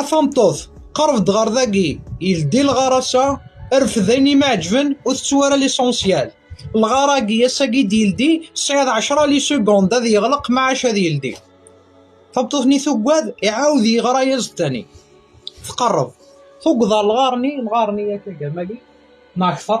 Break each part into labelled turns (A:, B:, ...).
A: A tameṭṭut, qerb-d ɣer dagi, yeldi lɣar-asa, rfed ayen i m-iɛeǧben, ur tettu ara lisensyal. Lɣar-agi, ass-agi i d-yeldi, tesɛiḍ ɛecra lisugund ad yeɣleq maɛac ad yeldi. Tameṭṭut-nni tuggad, iɛawed yeɣra-yas d tani. Tqerreb, tugged ɣer lɣar-nni, lɣar-nni yak agama-agi, neɣ akteṛ.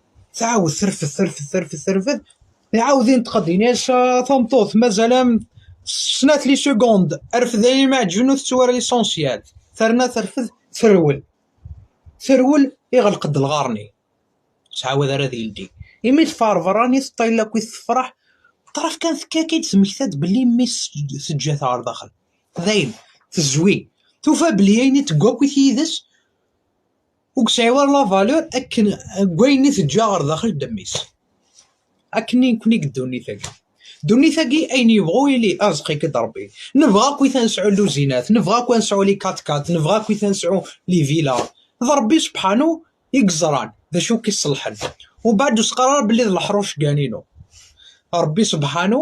A: Tɛawed terfed terfed terfed terfed. Iɛawed inṭeq ad d-ini-as ah, tameṭṭut mazal am snat li segond rfed ay imaɛǧben ur tettwara lisensyal. Terna terfed terwel. Terwel iɣelq-d lɣar-nni. Ur ttɛawad ara ad yeldi. Imi teffeɣ ɣer berra nni teṭṭayel akkit tefreḥ. Ṭṭraf kan tekka akka i d-temmekta-d belli mmi-s teǧǧa-t ɣer daxel. Dayen tezwi. Tufa belli ayen i tegga akkit yid-s Ur yesɛi ara la valeur akken deg wayen i teǧǧa ɣer daxel deg ddemmis. Akken i nekni deg ddunit-agi. Ddunit-agi ayen yebɣu yili, irzeq-ik-id Rebbi. Nebɣa akkit ad nesɛu lluzinat, nebɣa akkit ad nesɛu li kat-kat, nebɣa akkit ad nesɛu li vila. D Rebbi sebḥanu i yeẓran d acu i k-iṣelḥen. Ubeɛd ur s-qqar ara belli d leḥṛuc gan inu. Rebbi sebḥanu.